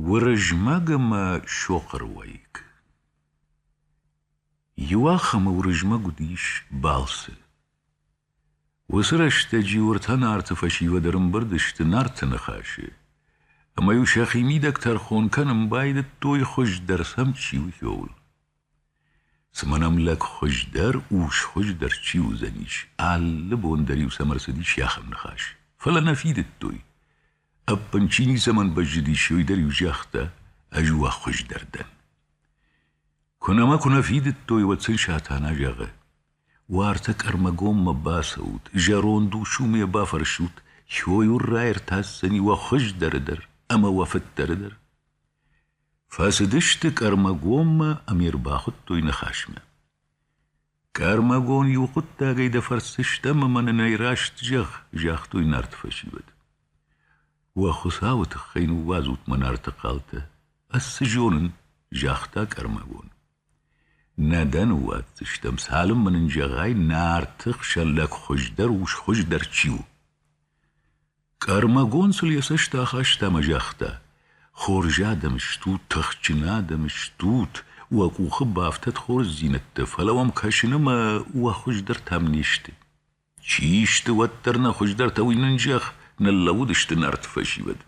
Уырызмӕг ӕмӕ Сохъыр уӕйыг. Иуахӕмы Уырызмӕг уыдис балцы. Уыцы рӕстӕджы уыртӕ Нарты фӕсивӕд ӕрымбырд сты Нарты ныхасы, ӕмӕ-иу сӕхи мидӕг тӕрхон кӕнын байдыдтой, хуыздӕр сӕм чи у, ууыл. Цымӕ нӕм лӕг хуыздӕр, ус хуыздӕр чи уыдзӕнис? Алы бон дӕр-иу сӕм ӕрцыдис йӕхӕм ныхас. Фӕлӕ нӕ фидыдтой. Ӕппын чи ницӕмӕн бӕззыдис, уый дӕр-иу загъта, ӕз уӕ хуыздӕр дӕн. Куы нӕма куы нӕ фидыдтой, уӕд сын Сатана зӕгъы: Уартӕ Къӕрмӕгоммӕ бацӕут, зӕронд усумӕ бафӕрсут, кой уын раиртасдзӕни уӕ хуыздӕры дӕр ӕмӕ уӕ фыддӕры дӕр. Фӕцыдысты Кӕрмӕгонмӕ ӕмӕ ӕрбахуыдтой ныхасмӕ. — Кӕрмӕгон иу хъуыддагӕй дӕ фӕрсдзыстӕм ӕмӕ нын ӕй раст зӕгъ, — загътой нарты фӕсивӕд. — Уӕ Хуыцауы тыххӕй ныууадзут мӕ нарты хъалтӕ, ӕз цы зонын, — загъта Кӕрмӕгон. — Нӕ дӕ ныууадздзыстӕм, цалынмӕ нын зӕгъай, нарты хсӕн лӕг хуыздӕр ус хуыздӕр чи у. Къӕрмӕгонцыл йӕ цӕст ахаста ӕмӕ загъта: Хорз адӕм стут, тыхджын адӕм стут, уӕ къухы бафтӕд хорздзинӕдтӕ, фӕлӕ уӕм кӕсын ӕмӕ уӕ хуыздӕртӕм не сты. Чи сты уӕддӕр нӕ хуыздӕртӕ, уый нын зӕгъ, ныллӕууыдысты нарты фӕсивӕд.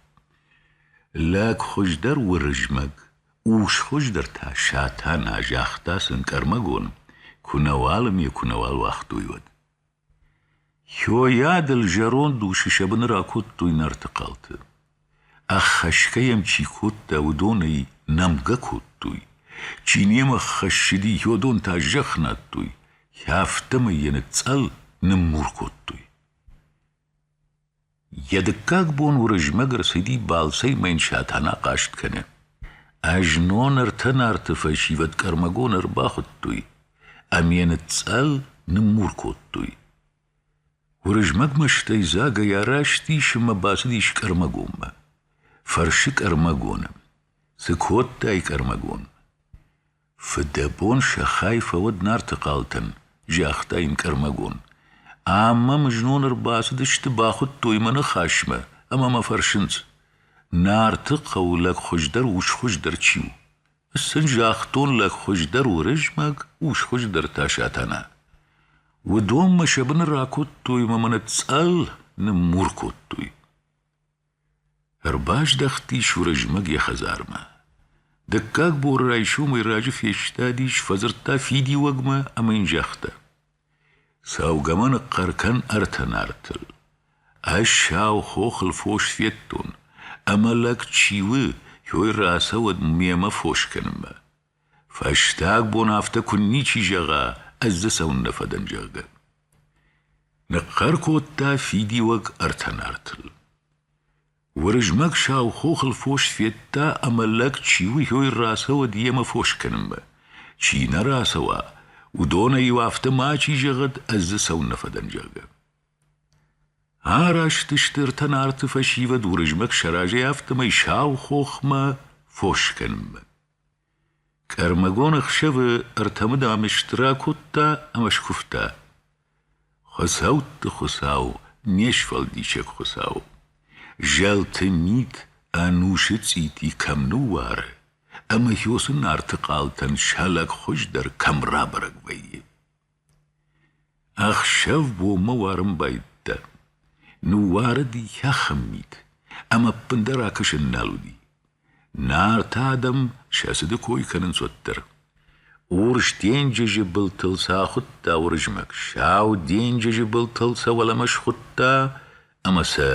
Лӕг хуыздӕр Уырызмӕг, ус хуыздӕр та Сатана, загъта сын Къӕрмӕгон, куы нӕ уал ӕм йӕ куы нӕ уал уагътой, уӕд. Хойадыл зӕронд усы сӕ быны ракодтой Нарты хъалты. Ӕххӕсгӕ йӕм чи кодта, уыдон ӕй нӕмгӕ кодтой. Чи немӕ ххӕссыди, йодон та зӕхх надтой. Афтӕмӕй йӕ ныцъцъӕл, ныммур кодтой. Йӕ дыккаг бон Уырызмӕг ӕрцыди балцӕй мӕ йын Сатана хъаст кӕны. Ӕзнон ӕртӕ нарты фӕсивӕд къӕрмӕгон ӕрбахуыдтой ӕмӕ йӕ ныцъцъӕл, ныммур кодтой. Уырызмӕг мӕстӕйдзагӕй араст ӕмӕ бацыдис Къӕрмӕгонмӕ. Фӕрсы Къӕрмӕгоны: «Цы кодтай, Къӕрмӕгон?» Фыдӕбон сӕ хай фӕуӕд Нарты хъалтӕн, загъта йын Къӕрмӕгон. Ӕмӕ мын знон ӕрбацыдысты, бахуыдтой мӕ ныхасмӕ ӕмӕ мӕ фӕрсынц: Нарты хъӕу лӕг хуыздӕр, усхуыздӕр чи у? Сын загътон, лӕг хуыздӕр Уырызмӕг, усхуыздӕр та Сатана. Уыдонмӕ сӕ быны ракодтой мӕ мӕ ныцъцъӕл, ныммур кодтой. Ӕрбаздӕхтис Уырызмӕг йӕ хӕдзармӕ. Дыккаг боры райсомӕй раджы фестадис, фӕдзырдта фидиуӕгмӕ ӕмӕ йын загъта: Цӕугӕ-ма ныхъхъӕр кӕн ӕртӕ нартыл. Ӕз сау хохыл фос федтон, ӕмӕ лӕг чи у, йой рацӕуӕд мемӕ фос кӕнынмӕ. Фӕстаг бон афтӕ куынничи зӕгъа, ӕз дзы цӕуыннӕ фӕдӕн, зӕгъгӕ. Ныхъхъӕр кодта фидиуӕг ӕртӕ нартыл. Уырызмӕг сау хохыл фос федта, ӕмӕ лӕг чи уыйой рацӕуӕд йемӕ фос кӕнынмӕ. Чи нӕ рацӕуа, уыдонӕй-иу афтӕ мачи зӕгъӕд, ӕз дзы цӕуыннӕ фӕдӕн, зӕгъгӕ. Араст сты ӕртӕ нарты фӕсивӕд Уырызмӕг сӕ разӕй, афтӕмӕй сау хохмӕ фос кӕнынмӕ. Къӕрмӕгон ӕхсӕвы ӕртӕмыдӕм стыр акодта ӕмӕ скуывта: «Хуыцӕутты Хуыцау, не сфӕлдисӕг Хуыцау, зӕлты мит ӕнусы цъити кӕм ныууары ӕмӕ Хьосы нарты хъалтӕн сӕ лӕгхуыз дӕр кӕм рабӕрӕг вӕййы!» Ӕхсӕв бонмӕ уарын байдыдта. Ныууарыд йӕхи мит, ӕмӕ ӕппындӕр акӕсӕн нал уыди. Нарты адӕм сӕ цыды кой кӕнынц уӕддӕр. Урс денджызы былтыл сӕ ахуыдта Уырызмӕг, сау денджызы былтыл сӕ уӕлӕмӕ схуыдта ӕмӕ сӕ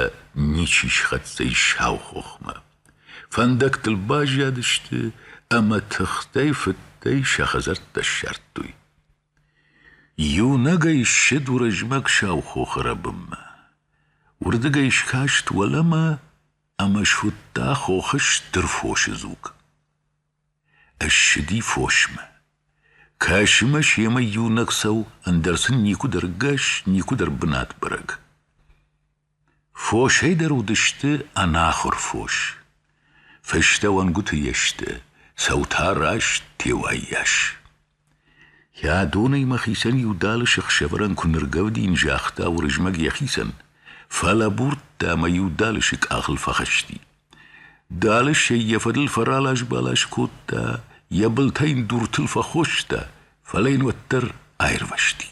ничи схӕццӕ ис сау хохмӕ. Фӕндӕгтыл баззадысты ӕмӕ тыхтӕй-фыдтӕй сӕ хӕдзӕрттӕ ссардтой. Иунӕгӕй ссыд Уырызмӕг сау хохы рӕбынмӕ. Уырдыгӕй скаст уӕлӕмӕ ӕмӕ суыдта хохы стыр фосы дзуг. Ссыди фосмӕ. Кӕсы мӕ семӕ иунӕг цӕу, ӕндӕр сын никуыдӕр гӕс, никуыдӕр бынат бӕрӕг. Фосӕй дӕр уыдысты ӕнахуыр фос. Фыстӕ уӕнгуты йе сты, сау та раст теуайы йас. Йӕ донӕймӕ хицӕн иу далысы хсӕвӕрӕн куы ныргӕвдин, загъта Уырызмӕг йӕхицӕн, фӕлӕбурдта ӕмӕ иу далысы къахыл фӕхызти. Далысӕй йӕ фӕдыл фӕралас-балас кодта, йӕ былтӕ йын дуртыл фӕхоста, фӕлӕ йын уӕддӕр аирвӕзти.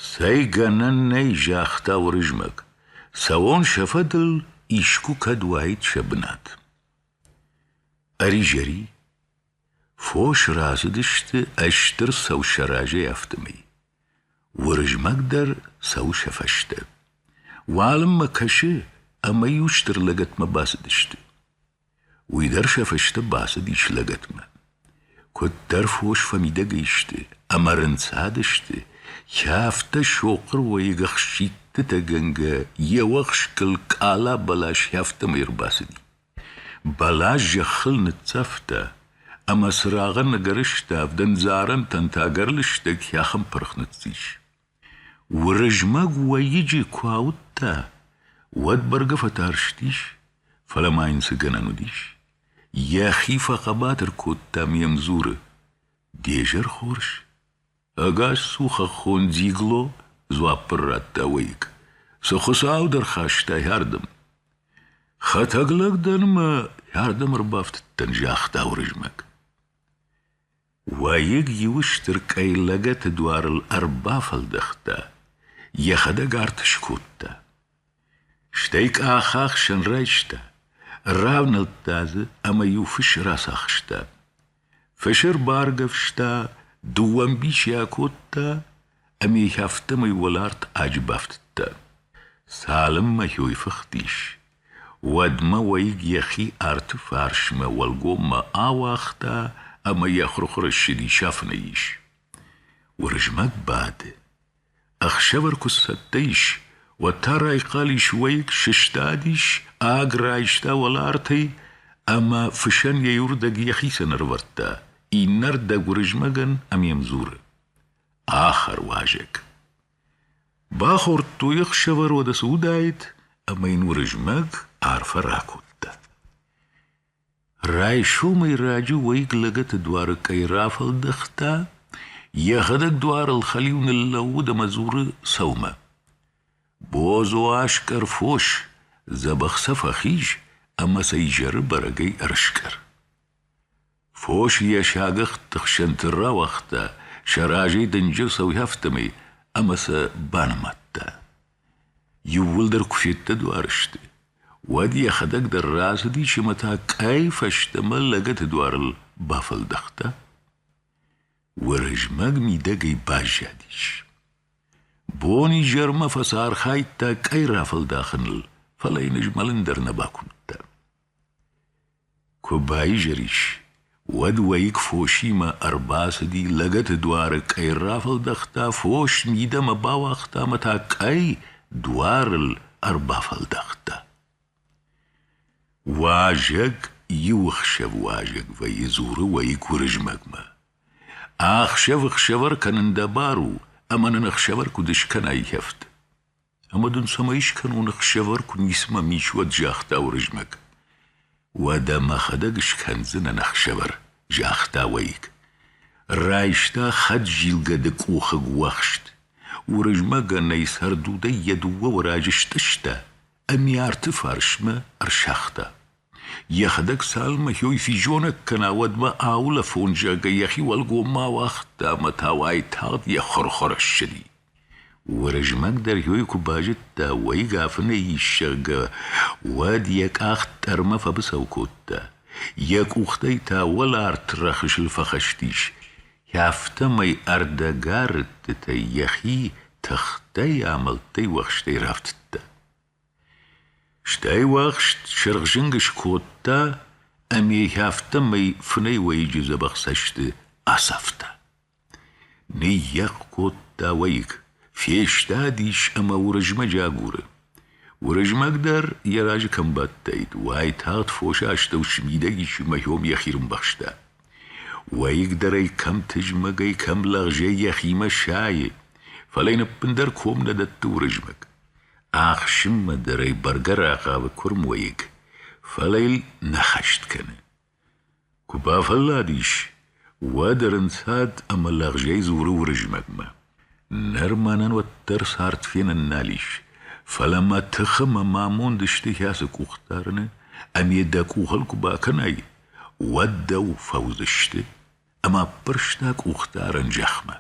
Цӕй гӕнӕн нӕй, загъта Уырызмӕг, цӕуон сӕ фӕдыл искуы кӕд уаид сӕ бынат. Ӕризӕри, фос рацыдысты ыстыр сау сӕ разӕй афтӕмӕй. Уырызмӕг дӕр цӕуы сӕ фӕстӕ. Уалынмӕ кӕсы, ӕмӕ иу стыр лӕгӕтмӕ бацыдысты. Уый дӕр сӕ фысты бацыдис лӕгӕтмӕ. Куыддӕр фос фӕмидӕг сты ӕмӕ рынцадысты, кӕфтӕ сохъыруайыг ӕхситтытӕгӕнгӕ йе уӕхскыл къала-бӕлас афтӕмӕй ӕрбацыди. Бӕлас зӕххыл ныццавта, ӕмӕ цырагъӕн ӕгӕрыстӕв дӕндзарӕнтӕн та ӕгӕр лыстӕг хӕхын пырх ныццис. Уырызмӕг уӕйыджы куы ауыдта, уӕд бӕргӕ фӕтарстис, фӕлӕ ма йын цы гӕнӕн уыдис. Йӕхи фӕхъӕбатыр кодта ӕмӕ йӕм дзуры: — Де зӕр хорз? Ӕгас цу, хӕххон дзигло, дзуапп ын радта уӕйыг. Цы хуыцау дӕ рхастай ардӕм? Хӕтӕг лӕг дӕн ӕмӕ ардӕм ӕрбафтыдтӕн, загъта Уырызмӕг. Уӕйыг иу стыр къӕй лӕгӕты дуарыл ӕрбафӕлдӕхта, йӕхӕдӕг арт скодта. Стӕй къахахсӕн райста, равнӕлдта дзы ӕмӕ-иу фыс рацахста. Фысы ӕрбаргӕвста, дыууӕ мбичи акодта ӕми афтӕмӕй уӕларт аджы бафтыдта. Цалынмӕ хойфыхтис, уӕдмӕ уӕйыг йӕхи арты фарсмӕ уӕлгоммӕ ауагъта ӕмӕ йӕ хурхуры ссыди сафынӕй ис. Уырызмӕг бады. Ӕхсӕвӕр куы цӕттӕ ис, уӕд та райхъал ис уӕйыг, сыстадис, аг райста уӕлартӕй ӕмӕ фысӕн йӕ иуырдӕг йӕхицӕн ӕрывӕрдта, иннӕ рдӕг Уырызмӕгӕн ӕм йӕм дзуры. Ахӕр уазӕг. Бахордтой ӕхсӕвӕродӕ цы уыдаид, ӕмӕ йын Уырызмӕг арфӕ ракодта. Райсомӕй раджы уӕйыг лӕгӕты дуары кӕй рафӕлдӕхта, йӕхӕдӕг дуарыл хӕлиу ныллӕууыд ӕмӕ дзуры сӕумӕ. Бозо аскъӕр фос, дзӕбӕх сӕ фӕхиз ӕмӕ сӕ изӕры бӕрӕгӕй ӕрыскъӕр. Фос йӕ сагӕхты хсӕнты рауагъта, сӕ разӕй дынджыр сӕуӕфтӕмӕй ӕмӕ сӕ банымадта. Иууылдӕр куы феддӕдуар сты, уӕд йӕхӕдӕг дӕр рацыдис ӕмӕ та къӕй фӕстӕмӕ лӕгӕты дуарыл бафӕлдӕхта. Уырызмӕг мидӕгӕй баззадис. Бон-изӕрмӕ фӕцархайдта къӕй рафӕлдахыныл, фӕлӕ йын ызмӕлын дӕр нӕ бакуымдта. Куы баизӕрис, уӕд уӕйыг фосимӕ ӕрбацыди, лӕгӕты дуары къӕй рафӕлдӕхта, фос мидӕмӕ бауагъта ӕмӕ та къӕй дуарыл ӕрбафӕлдӕхта. Уазӕг иу ӕхсӕв уазӕг вӕййы, дзуры уӕйыг Уырызмӕгмӕ: «Ӕхсӕв ӕхсӕвӕр кӕнын дӕ бар у, ӕмӕ нын ӕхсӕвӕр куыд скӕнай хӕфт?» Ӕмӕ дын цӕмӕй скӕнон ӕхсӕвӕр, куы ницыма ми ис, уӕд, загъта Уырызмӕг. Уӕдӕ мӕхӕдӕг скӕндзынӕн ӕхсӕвӕр, загъта уӕйыг. Райста хӕдзилгӕды къухыг уӕхст. Уырызмӕгӕн ӕй цӕрдудӕй йӕ дыууӕ уӕраджы стъыста, ӕмӕ арты фарсмӕ ӕрсагъта. Йӕхӕдӕг цалынмӕ хиой физонӕг кӕна, уӕдмӕ аулӕфон зӕгъгӕ йӕхи уӕлгоммӕ ауагъта ӕмӕ та уайтагъд йӕ хъуыр-хъуыр ссыди. Уырызмӕг дӕр хиой куы базыдта, уӕйыг афынӕй ис, зӕгъгӕ, уӕд йӕ къахт тъӕрмӕ фӕбыцӕу кодта. Йӕ къухтӕй та уӕларт рӕхысыл фӕхӕстис. Афтӕмӕй ӕрдӕгӕрыдтытӕй йӕхи тыхтӕй, амӕлттӕй, уӕхстӕй рафтыдта. Стӕй уӕхст сырхзынг скодта ӕмӕ йӕхи афтӕмӕй фынӕй уӕйыджы дзӕбӕх цӕсты ацавта. Ныййӕхх кодта уӕйыг, фестадис ӕмӕ Уырызмӕджы агуры. Уырызмӕг дӕр йӕ разы кӕм бадтаид, уайтагъд фосы астӕу смидӕг ис ӕмӕ йӕм йӕхи рымбӕхста. Уӕйыг дӕр ӕй кӕм тызмӕгӕй, кӕм лӕгъзӕй йӕхимӕ сайы, фӕлӕ йын ӕппындӕр ком нӕ дӕтты Уырызмӕг. Ӕхсынмӕ дӕр ӕй бӕргӕ рахъавы куырм уӕйыг, фӕлӕ йыл нӕ хӕст кӕны. Куы бафӕлладис, уӕд ӕрынцад ӕмӕ лӕгъзӕй дзуры Уырызмӕгмӕ: «Ныр мӕнӕн уӕддӕр цард фенын нал ис, фӕлӕ мӕ тыхы мӕ амонд ысты ацы къух дарыны, ӕмӕ дӕ къухыл куы бакӕнай, уӕд дӕу фӕуыдзысты, ӕмӕ ппӕрста къух дарын зӕхмӕ».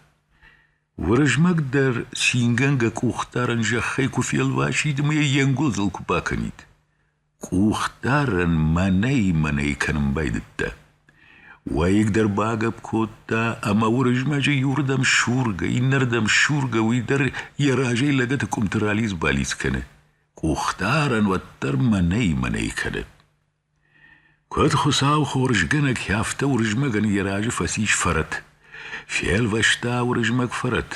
Уырызмӕг дӕр цингӕнгӕ къухдарӕн зӕххӕй куы фелвасид ӕмӕ йӕ йе нгуылдзыл куы бакӕнид. Къухдарӕн мӕнӕй-мӕнӕй кӕнын байдыдта. Уӕйыгдӕр багӕпп кодта, ӕмӕ Уырызмӕджы иуырдӕм сургӕ, иннӕрдӕм сургӕ, уый дӕр йӕ разӕй лӕгӕты къуымты ралидз-балидз кӕны. Къухдарӕн уӕддӕр мӕнӕй-мӕнӕй кӕны. Куыд Хуыцау хорзгӕнӕг, афтӕ Уырызмӕгӕн йӕ разы фӕцис фӕрӕт. Фелвӕста Уырызмӕг фӕрӕт,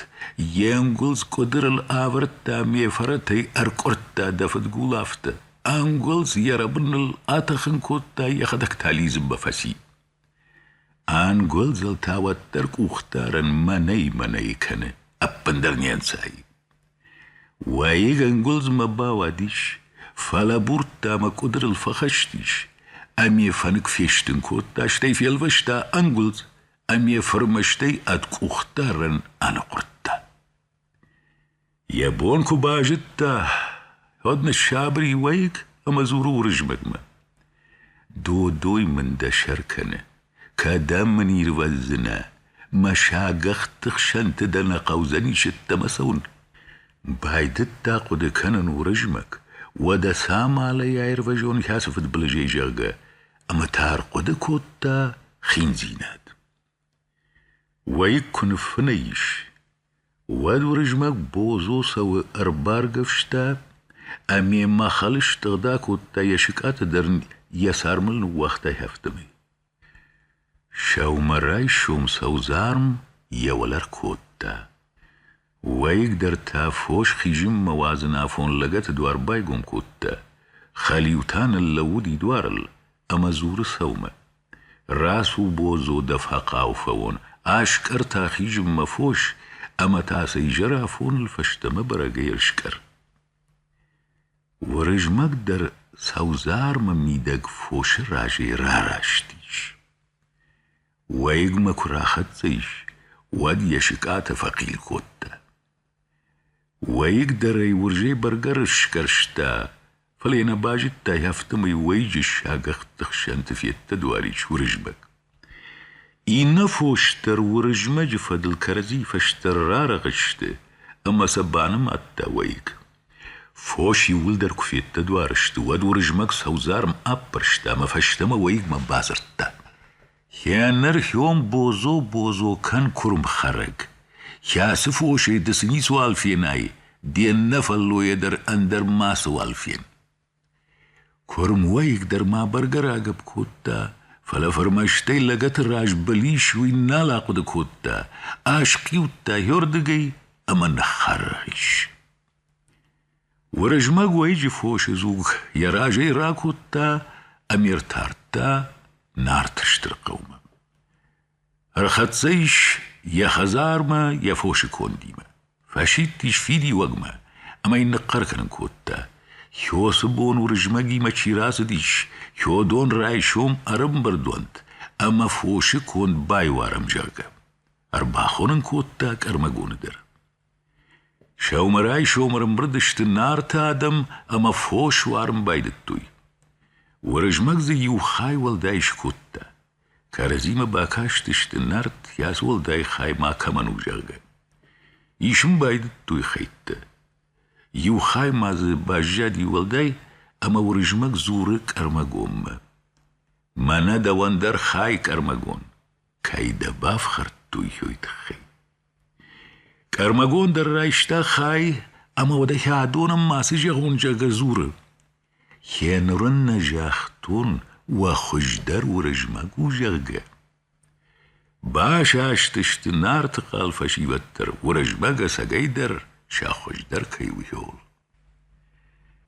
йе нгуылдз къуыдырыл авӕрдта ме фӕрӕтӕй, ӕркъуырдта дӕ фыдгул афтӕ. Ӕнгуылдз йӕ рӕбыныл атӕхын кодта, йӕхӕдӕг та лидзынмӕ фӕци. Ӕнгуылдзыл та уӕддӕр къухдарӕнмӕ нӕй-мӕнӕй кӕны, ӕппындӕр не нцайы. Уӕйыг ӕнгуылдзмӕ бауадис, фӕлӕбурдта ӕмӕ къуыдырыл фӕхӕстис, ӕмӕ йӕ фӕнык фестын кодта, стӕй фелвӕста ӕнгуылдз ӕмӕ йӕ фырмӕстӕй ӕд къухдарӕн аныхъуырдта. Йӕ бон куы базыдта, уӕд ныссабыр и уӕйыг ӕмӕ дзуры Уырызмӕгмӕ: «Додой мын дӕ сӕр кӕны, кӕдӕм мын ирвӕздзынӕ, мӕ сагӕхты хсӕнты дӕ нӕ хъӕудзӕн исӕттӕмӕ цӕуын?» Байдыдта хъуыды кӕнын Уырызмӕг, уӕдӕ цамалӕй аирвӕзон кӕцы фыдбылызӕй, зӕгъгӕ, ӕмӕ та ӕрхъуыды кодта хиндзинад. Уӕйыг куы ныффынӕй ис, уӕд Уырызмӕг Бозо цӕуы ӕрбаргӕвста ӕмӕ мӕхъӕлы стыгъд акодта, йӕ сыкъатӕ дӕр ын йӕ цармыл ныууагъта хӕфтымӕ. Сӕумӕрайсом сӕудзарм йӕ уӕлӕ ркодта. Уӕйыгдӕр та фос хизынмӕ уадзын афон лӕгӕты дуар байгом кодта, хӕлиу та ныллӕууыд идуарыл ӕмӕ дзуры сӕумӕ: «Рацу, бодзо, дӕ фӕхъау фӕуон, аскъӕр та хизынмӕ фос, ӕмӕ та сӕ изӕр афоныл фӕстӕмӕ бӕрӕгӕй ӕрскъӕр». Уырызмӕг дӕр сӕудзармы мидӕг фосы разӕй рараст ис. Уӕйыгмӕ куы рахӕццӕ ис, уӕд йӕ сыкъатӕ фӕхъил кодта. Уӕйыг дӕр ӕй уырзӕй бӕргӕ сгӕрста, фӕлӕ йӕ нӕ базыдта, афтӕмӕй уӕйыджы сагӕхты хсӕнты федта дуарис Уырызмӕг. Иннӕ фос дӕр Уырызмӕджы фӕдыл кӕрӕдзийы фӕстӕ рарӕгъ сты, ӕмӕ сӕ банымадта уӕйыг. Фос иууылдӕр куы феддӕдуар сты, уӕд Уырызмӕг сӕудзарм аппӕрста ӕмӕ фӕстӕмӕ уӕйыгмӕ бадзырдта: «Хенӕрхион бодзо-бодзо кӕн куырмхӕрӕг! Кӕцы фосӕй ды цы ницыуал фенай, де ннӕ фӕллойӕ дӕр ӕндӕр мацыуал фен!» Куырм уӕйыг дӕр ма бӕргӕ рагӕпп кодта, фӕлӕ фырмӕстӕй лӕгӕты раз былис уый нал ахъуыды кодта, асхъиудта йордыгӕй ӕмӕ ныххӕррӕйс. Уырызмӕг уӕйыджы фосы дзуг йӕ разӕй ракодта ӕмӕ ӕртардта Нарты стыр хъӕумӕ. Ӕрхӕццӕ ис йӕ хӕдзармӕ йӕ фосы кондимӕ, фӕсидтис фидиуӕгмӕ ӕмӕ йын ныхъхъӕр кӕнын кодта: Хёсы бон Уырызмӕгимӕ чи рацыдис, Хёдон райсом ӕрӕмбырд уӕнт ӕмӕ фосы конд байуарӕм, зӕгъгӕ. Ӕрбахонын кодта Къӕрмӕгоны дӕр. Сӕумӕрайсомы ӕрымбырд сты Нарты адӕм ӕмӕ фос уарын байдыдтой. Уырызмӕг дзы иу хай уӕлдай скодта. Кӕрӕдзимӕ бакастысты, Нарт йас уӕлдай хай макӕмӕн у, зӕгъгӕ. Исын байдыдтой хӕйттӕ. Иу хай ма дзы баззади уӕлдай, ӕмӕ Уырызмӕг дзуры Къӕрмӕгонмӕ. Мӕнӕ дӕуӕн дӕр хай, Къӕрмӕгон, кӕй дӕ бафхӕрдтой, уый тыххӕй. Къӕрмӕгон дӕр райста хай ӕмӕ уӕдӕхи адонӕн мацы зӕгъуынзӕгӕ дзуры: «Хеныр ын нӕ загътон, уӕ хуыздӕр Уырызмӕг у, зӕгъгӕ». Басастысты Нарты хъал фӕсивӕд дӕр, Уырызмӕг ӕцӕгӕйдӕр сӕ хуыздӕр кӕй у, ууыл.